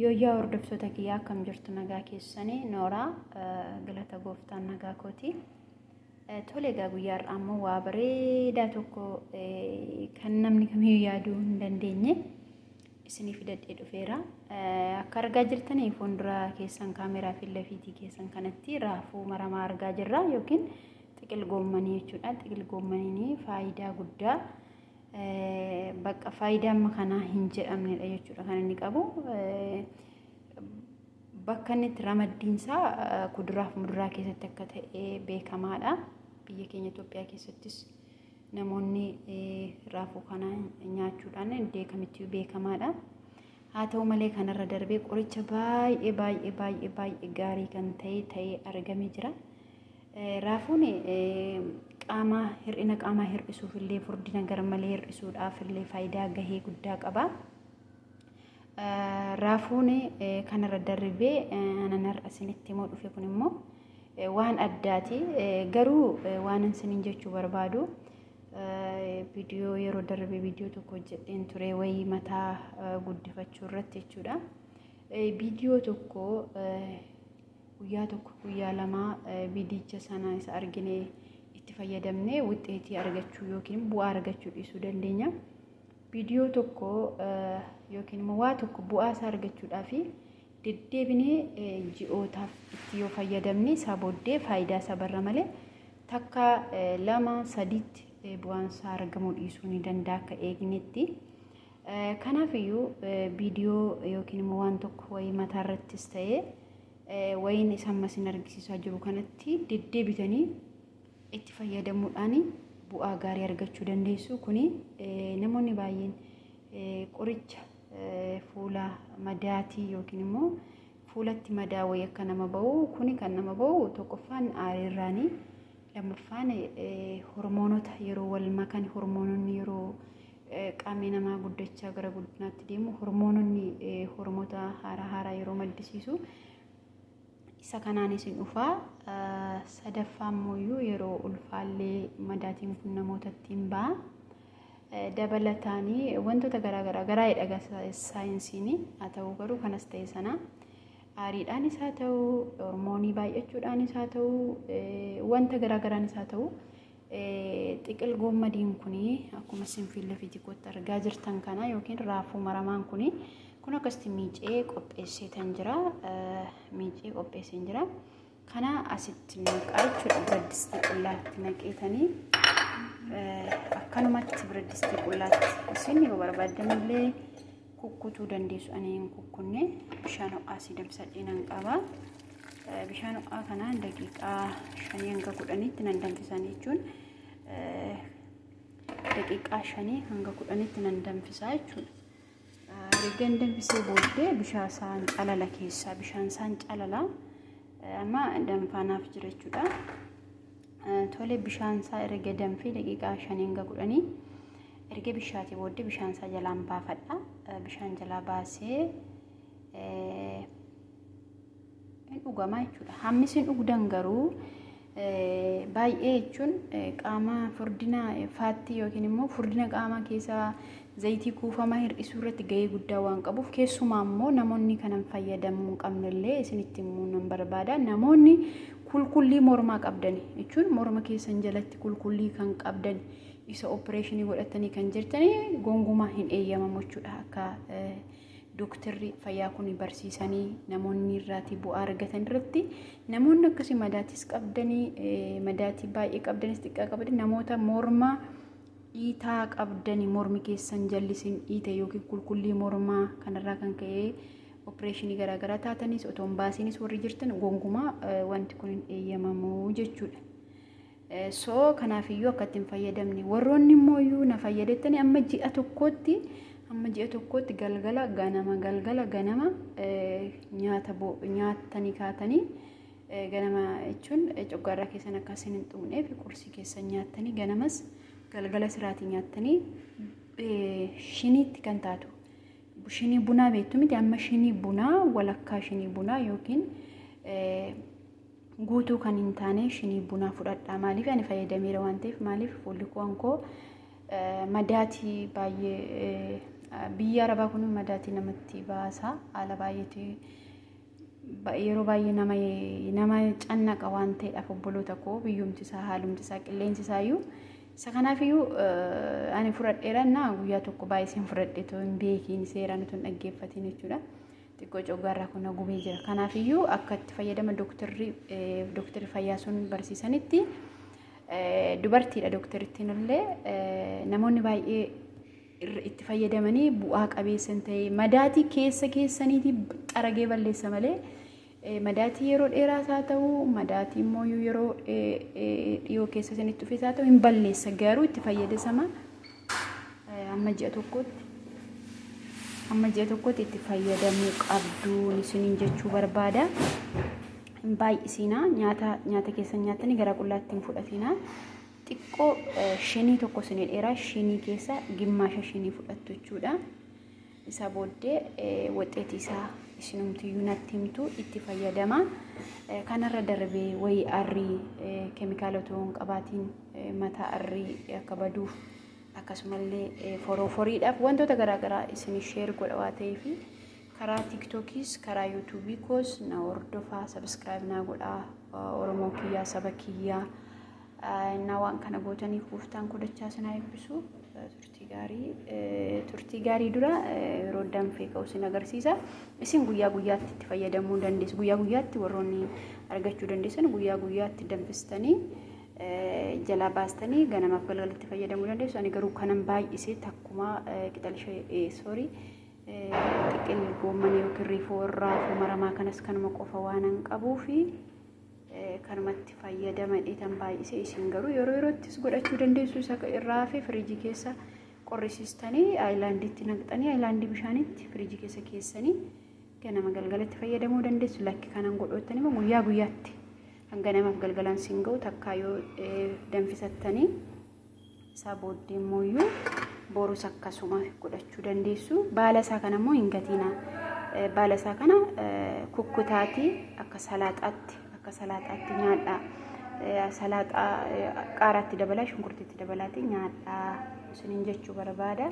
Yooyyaa hordoftoota kiyyaa akkam jirtu nagaa keessanii nooraa galata gooftaan nagaa kooti. Tole egaa guyyaa har'aa immoo waa bareedaa tokko kan namni kamiyyuu yaaduu hin dandeenye isiniif dadhee dhufeera. Akka argaa jirtanii fuuldura keessan kaameeraa fi lafiitii keessan kanatti raafuu maramaa argaa jirra yookiin xiqil goommanii jechuudha. Xiqil goommaniin faayidaa guddaa Bakka faayidaa amma kanaa hin jedhamnedha jechuudha kan inni qabu. Bakka inni itti ramaddiinsaa kuduraaf muduraa keessatti akka ta'e beekamaadha. Biyya keenya Itoophiyaa keessattis namoonni raafuu kana nyaachuudhaan iddoo kamittuu beekamaadha. Haa ta'u malee kanarra darbee qoricha baay'ee baay'ee baay'ee baay'ee gaarii kan ta'e ta'ee argamee jira. Raafuun qaamaa hir'ina qaamaa hir'isuuf illee furdina garmalee hir'isuudhaaf illee faayidaa gahee guddaa qaba. Raafuun kanarra darbee anan har'a isinitti immoo dhufe kun immoo waan addaati. Garuu waan isiniin jechuu barbaadu viidiyoo yeroo darbe viidiyoo tokko hojjedheen ture wayii mataa guddifachuu irratti jechuudha. Viidiyoo tokko Guyyaa tokko guyyaa lama viidiyicha sana isa argine itti fayyadamnee wixxeetii argachuu yookiin bu'aa argachuu dhiisuu dandeenya. Viidiyoo tokko yookiin immoo waa tokko bu'aa isaa argachuudhaaf deddeebinee ji'ootaaf itti yoo fayyadamne isaa booddee faayidaa isaa barra malee takka lama sadiitti bu'aan isaa argamuu dhiisuu ni danda'a akka eegnetti. Kanaaf iyyuu viidiyoo yookiin immoo waan tokko wayii mataa irrattis ta'ee wayiin isa amma isin argisiisaa jiru kanatti deddeebitanii itti fayyadamuudhaan bu'aa gaarii argachuu dandeessu. Kuni namoonni baay'een qoricha fuula madaatii yookiin immoo fuulatti madaa wayii akka nama ba'u kuni kan nama ba'u tokkoffaan aariirraanii lammaffaan hormoonota yeroo wal makan hormoononni yeroo qaamni namaa guddachaa gara guddinaatti deemu hormoononni hormoota haaraa haaraa yeroo maddisiisu isa kanaanis hin dhufaa sadaffaa immoo yeroo ulfaallee madaatiin kun namootatti hin ba'a. dabalataanii wantoota garaagaraa garaa hidhaga saayinsiin haa ta'u garuu kanas ta'e sana aariidhaan isaa ta'u hormoonii baay'achuudhaan isaa ta'u wanta garaagaraan isaa ta'u Xiqil goommadiin kun akkuma isin fiilla fiijikootti argaa jirtan kana yookiin raafuu maramaan kun kun akkasitti miicee qopheesseetan jira. Miicee qopheesseen jira. Kana asitti naqaa jechuudha biraddisti qullaatti naqeetanii akkanumatti biraddisti qullaatti isin yoo barbaaddan illee kukkutuu dandeessu ani hin kukkunne bishaan ho'aa si danfisadhee nan qaba bishaan ho'aa kanaan daqiiqaa shanii hanga kudhaniitti nan danfisan jechuun daqiiqaa shanii hanga kudhaniitti nan danfisaa jechuudha. Ergan danfisee booddee bishaan isaan calala keessaa bishaan isaan calala amma danfaanaaf jira jechuudha. Tole bishaan isaa erga danfee daqiiqaa 5 hanga 10 erga bishaatee booddee bishaan isaa jalaan baafadha. Bishaan jalaa baasee hin dhugamaa jechuudha. Hammi isin dhugdan garuu baay'ee jechuun qaama furdina faattii yookiin immoo furdina qaamaa keessa Zayitii kuufamaa hir'isuu irratti gahee guddaa waan qabuuf keessumaa immoo namoonni kanan fayyadamuu hin qabne illee isinitti himuu nan barbaada. Namoonni kulkullii mormaa qabdan jechuun morma keessan jalatti kulkullii kan qabdan isa opereeshinii godhatanii kan jirtanii gongumaa hin eeyyamamu jechuudha akka dooktarri fayyaa kun barsiisanii namoonni irraati bu'aa argatan irratti namoonni akkasii madaatis qabdanii madaatii baay'ee qabdanis xiqqaa qabdan namoota mormaa dhiitaa qabdani mormi keessan jallisin dhiite yookiin kulkullii mormaa kanarraa kan ka'ee opereeshinii garaagaraa taatanis otoo hin baasinis warri jirtan gonkumaa wanti kun hin eeyyamamu jechuudha. So kanaaf iyyuu akka itti hin fayyadamne warroonni immoo iyyuu na fayyadettani amma ji'a tokkootti amma ji'a tokkootti galgala ganama galgala ganama nyaata nyaattanii kaatanii Ganama jechuun coggaarraa keessan akka isin hin xuqneef qursii keessan nyaattanii ganamas galgala siraatii nyaattanii shiniitti kan taatu shinii bunaa beektu miti amma shinii bunaa walakkaa shinii bunaa yookiin guutuu kan hin taane shinii bunaa fudhadhaa maaliif ani fayyadameera waan ta'eef maaliif fuulli kuwan koo madaatii baay'ee biyya arabaa kun madaatii namatti baasa haala baay'eetii yeroo baay'ee nama nama cannaqa waan ta'eedhaaf obboloota koo biyyumti isaa haalumti isaa qilleensi isaa iyyuu isa kanaaf iyyuu ani fudhadheera naa guyyaa tokko baay'iseen fudhadhe too hin beekiin seeraan utuu hin dhaggeeffatiin jechuudha. Xiqqoo coggaarraa kun na gubee jira. Kanaaf iyyuu akka itti fayyadama dooktarri dooktarri fayyaa sun barsiisanitti dubartiidha dooktarittiin illee namoonni baay'ee irra itti fayyadamanii bu'aa qabeessa hin ta'e. Madaatii keessa keessaniitii xaragee balleessa malee eh, madaatii yeroo dheeraas haa ta'u madaatii immoo yeroo eh, eh, dhiyoo keessa isinitti dhufes haa ta'u hin balleessa garuu itti fayyadasama eh, amma ji'a tokkotti amma ji'a tokkotti itti fayyadamuu qabduun isiniin jechuu barbaada. Hin baay'isinaa nyaata nyaata keessan nyaattanii gara qullaatti hin fudhatinaa. xiqqoo shinii tokko sinii dheeraa shinii keessa gimmaasha shinii fudhattu jechuudha. Isa booddee waxeetii isaa isinumtiyyuu natti himtu itti fayyadama. Kanarra darbee wayii arrii keemikaala otoo hin qabaatiin mataa arrii akka baduuf akkasumallee forooforiidhaaf wantoota garaagaraa isin sheer godha waa ta'eef karaa tiiktokiis karaa yuutuubii koos na hordofaa sabiskiraayib naa godhaa oromoo kiyyaa saba kiyyaa. Innaa waan kana gootaniif gooftaan koo dachaa isin haa eebbisu. Turtii gaarii turtii gaarii dura yeroo danfee ka'u isin agarsiisa. Isin guyyaa guyyaatti itti fayyadamuu dandeessu. Guyyaa guyyaatti warroonni argachuu dandeessan guyyaa guyyaatti danfistanii jalaa baastanii ganamaaf galgalatti fayyadamuu dandeessu. Ani garuu kanan baay'isee takkumaa qixal ishee soorii xiqil goommanii yookiin riifoo irraa maramaa kanas kanuma qofa waanan qabuufi. kanumatti fayyadama dheetan baay'isee isin garuu yeroo yeroottis godhachuu dandeessu isa irraa hafe firiijii keessa qorrisiistanii aayilaandiitti naqxanii aayilaandii bishaanitti firiijii keessa keessanii ganama galgalatti fayyadamuu dandeessu lakki kanan godhoottan immoo guyyaa guyyaatti hanga namaaf galgalaan siin ga'u takkaa yoo danfisattanii isaa booddee immoo iyyuu borus akkasuma godhachuu dandeessu. Baala isaa kana immoo hin gatiina. Baala isaa kana kukkutaatii akka salaaxaatti akka salaaxaatti nyaadhaa. Salaaxaa qaaraatti dabalaa shunkurtiitti dabalaatii nyaadhaa isiniin jechuu barbaada.